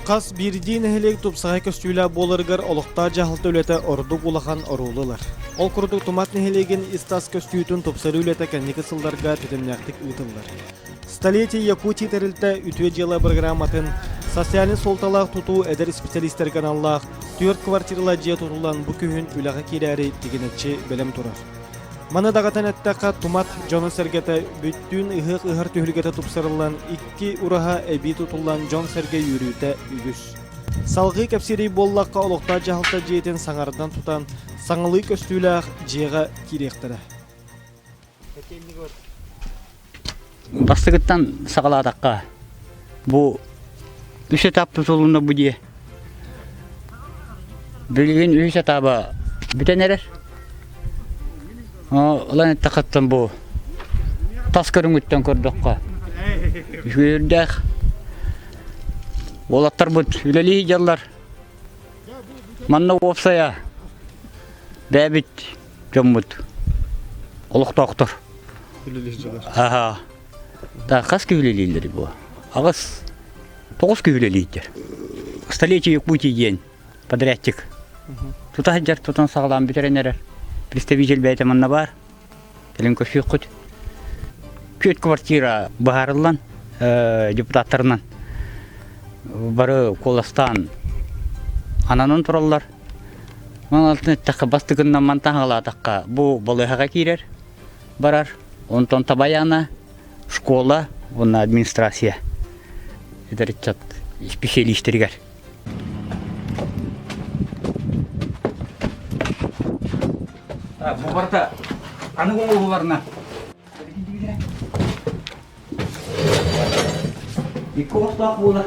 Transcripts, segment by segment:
Хас биирдии нэһилиэк тупсаҕай көстүүлээх буоларыгар олохтоох дьаһалта үлэтэ ордук улахан оруолу ылар. Ол курдук Тумат нэһилиэгин ис-тас көстүүтүн тупсарыы үлэтэ кэнники сылларга тэтимнээхтик ыытыллар. Столетие Якутии тэрилтэ үтүө дьыала бырагырааматын социальнай суолталаах тутуу эдэр исписэлиистэргэ аналлаах түөрт квартиралаах дьиэ тутуллан бу күһүн үлэҕэ киирээри тигинэччи бэлэм турар. Маны даҕатан эттэххэ, тумат дьоно-сэргэтэ бүттүүн ыһыах ыһар түһүлгэтэ тупсарыллан, икки ураһа эбии тутуллан дьон-сэргэ үөрүүтэ үгүс. Салгыы кэпсиирий буоллахха, олохтоох дьаһалта дьиэтин саҥардан тутан, саҥалыы көстүүлээх дьиэҕэ киириэхтэрэ. Бастакыттан саҕалаатахха бу үс этап тутулунна бу дии. Билигин үһүс этаба бүтэн эрэр. Ылан эттэхиттэн бу тас көрүҥүттэн көрдөххө үһүөрдээх. Уолаттарбыт үлэлии дьаллар. Манна уопсайа бэбит дьоммут олохтоохтор аха та хас киһи үлэлииллэр бу аҕыс тоҕус киһи үлэлииллэр столетие пути диэн подрядчик тута сылдьар тутан саҕалаан бүтэрэн эрэр представитель бэйэтэ манна баар кэлин көрсүөххүт күөт квартира быһаарыллан депутаттарынан бары куоластаан ананан тураллар Ман алтын эттэххэ бастыгыннамман таһаҕалаатахха бу балыыһаҕа киирэр барар онтон табаяна школа уонна администрация эдэр ыччат исписэлиистэригэр буубарда аны оҕоларына икки оҕостоох буолар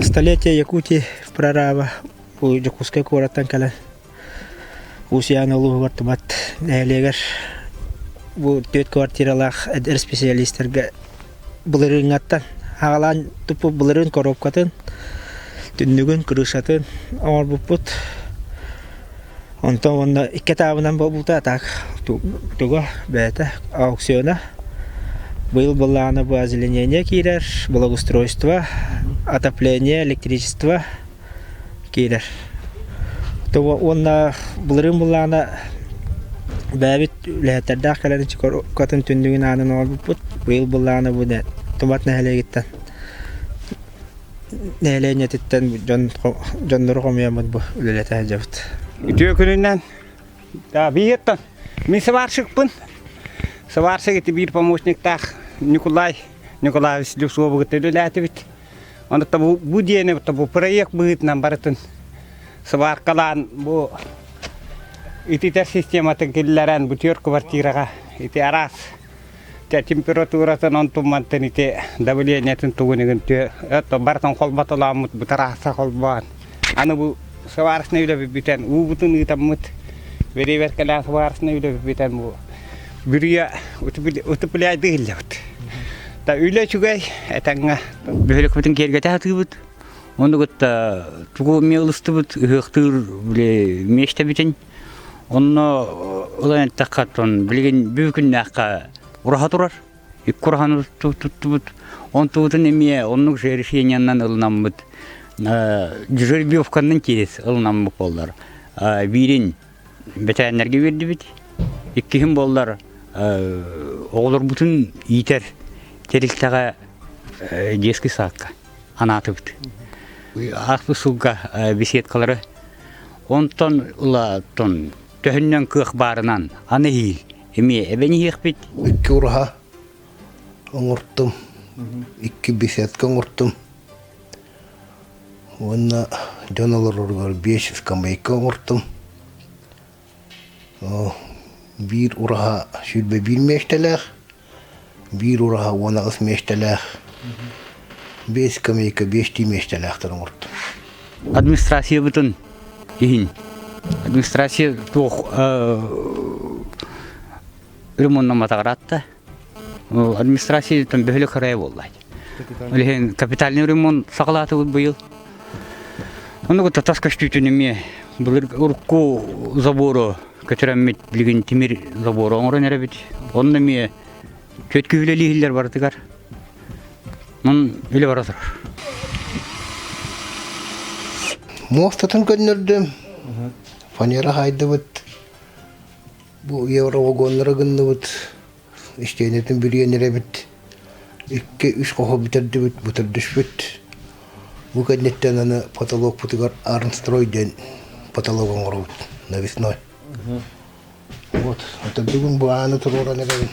Столетие Якутии прораба у Дьокуускай куораттан кэлэн Усян улууһугар тумат нэһилиэгэр бу түөрт квартиралаах эдэр специалистэргэ былырыыҥҥаттан хаалаан туппут былырыын коробкатын, түннүгүн, крышатын оҥорбуппут. Онтон уонна икки таабынан буолбута так туга бэйэтэ аукциона. Быйыл былаана бу озеленение киирэр, благоустройство, отопление, электричество киирэр. Уонна былырыын былаана бэйэбит үлэһиттэрдээх кэлэн катын түннүгүн аанын оҥорбуппут. Быйыл былаана бу Тумат нэһилиэгиттэн нэһилиэнньэтиттэн дьон дьоннору хомуйаммыт бу үлэлэтэ сылдьабыт. Үтүө күнүнэн да биһиэттэн мин сварщикпын. Сварщик ити биир помощниктаах Николай Николаевич Люсуобугут үлэлээтибит. бу диэни бу проект быһыытынан барытын сыбааркалаан бу ититэр систематын киллэрэн бу түөрт квартираҕа ити араас температуратын онтуммантан ити давлениетин тугунугун түө бартан холботолооммут бутарааса холбоон Аны бу сварочнай үлэби бүтэн, уубутун ыытаммыт, веревер кэлээн сварочнай үлэби бүтэн бу бүрүйэ утупуляйды иллебит. Та үлэ үчүгэй, этаҥа бөһөлөкпүтүн киэргэтэ атыыбыт. Ону кытта тугу эмиэ ылыстыбыт, ыһыахтыыр били миэстэбитин. Онно ылан эттэххэ, тон билигин бүгүннээххэ ураха турар. икки курахан туттубут онтубутун эмиэ оннук решениянан ылынаммыт дежурбовканан киирис ылынаммыт буоллар биирин бэтээннэргэ биэрдибит иккиһин буоллар оҕолорбутун иитэр тэрилтэҕэ детский садка анаатыбыт ааспыт сылга беседкалары онтон ыла тон төһүннэн кыах баарынан аны иһиил Эмиэ эбэн иһиэхпит. Икки ураһа оҥортум, икки беседка оҥортум. Уонна дьон олороругар биэс скамейка оҥортум. Биир ураһа сүүрбэ биир миэстэлээх, биир ураһа уон аҕыс миэстэлээх, биэс скамейка биэстии миэстэлээхтэр оҥортон. Администрациябытын иһин. Администрация туох ремоннаматаҕар атта. Администрацияттан бөһөлө кырайа буоллаат. капитальный ремонт саҕалаатыбыт быйыл. Ону кытта тас көстүүтүн эмиэ былыр урукку забору көтүрэммит билигин тимир забору оҥорон эрэбит. Онно эмиэ түөт киһилэлииһиллэр барытыгар. Мун үлэ бара турар. Муостатын көннөрдүм. Фанера хаайдыбыт. Бу евровагоннары гынныбыт. истиэнэтин билиэн эрэбит икки үс хоһу бүтэрдибит бытырдышпыт бу кэнниттэн аны потолокпутугар арнстрой диэн потолог оҥоробут навесной вот это бүгүн бу ааны туруоран эрэбин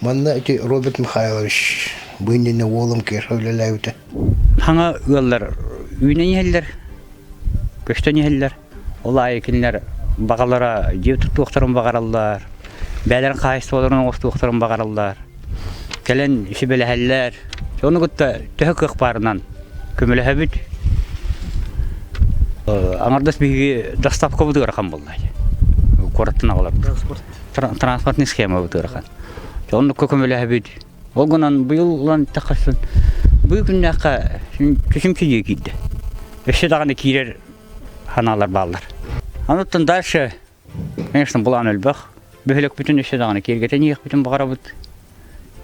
манна ити роберт михайлович бу иннинэ уолум киэхэ үлэлээбитэ хаҥа ыаллар үүнэн иһэллэр көстөн иһэллэр Ол аайы кинилэр баҕалара дьиэ туттуохтарын баҕараллар, бэйэлэрин хаһаайыстыбаларын оҥостуохтарын баҕараллар. Кэлэн сибэлэһэллэр. Ону кытта төһө кыах баарынан көмөлөһөбүт. Аҥардас биһиги доставкабыт ыарахан буолла. Куораттан аҕаларбыт. Транспортный схемабыт ыарахан. Оннукка көмөлөһөбүт. Ол гынан быйыл ылан эттэххэ сын бу күннээххэ кисим кириэ киирдэ. Өссө даҕаны киирэр санаалар бааллар. Анныттан дальше, конечно, булаан өлбөх. Бөһөлөкпүтүн өссө даҕаны киэргэтэн иэхпитин баҕарабыт.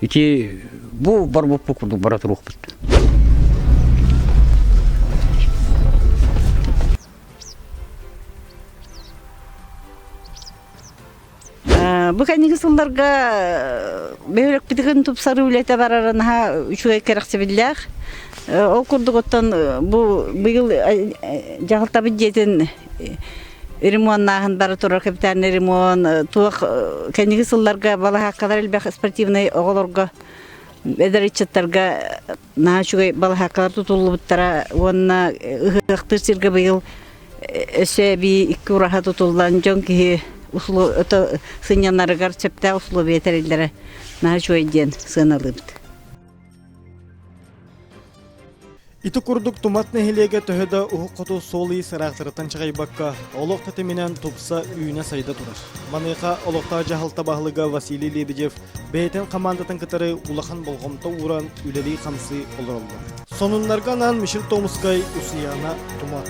Ити бу барбыппыт курдук бара туруохпут. Бу кэнники сылларга бөһүрөкпүтүгүн тупсарыы үлэтэ барара наһаа үчүгэй кэрэхсэбиллээх. Ол курдук оттон бу быйыл дьаһалтабыт дьиэтин ремоннааһын бара турар капитальный ремонт туох кэнники сылларга балаһааккалар элбэх спортивнай оҕолорго эдэр ыччаттарга на үчүгэй балаһааккалар тутуллубуттара уонна ыһыахтыыр сиргэ быйыл өссө эбии икки ураһа тутуллан дьон киһи это сынньанарыгар сөптөөх условия тэриллэрэ на үчүгэй диэн сыаналыыбыт Ити курдук Тумат нэһилиэгэ төһө да уһук хоту суол-иис ыраахтарыттан чаҕыйбакка, олох тэтиминэн тупса үүнэ-сайда турар. Маныаха олохтоох дьаһалта баһылыга Василий Лебедев бэйэтин хамаандатын кытары улахан болҕомто ууран үлэлии-хамсыы олороллор. Сонуннарга анаан Мишель Томскай, Усуйаана Тумат.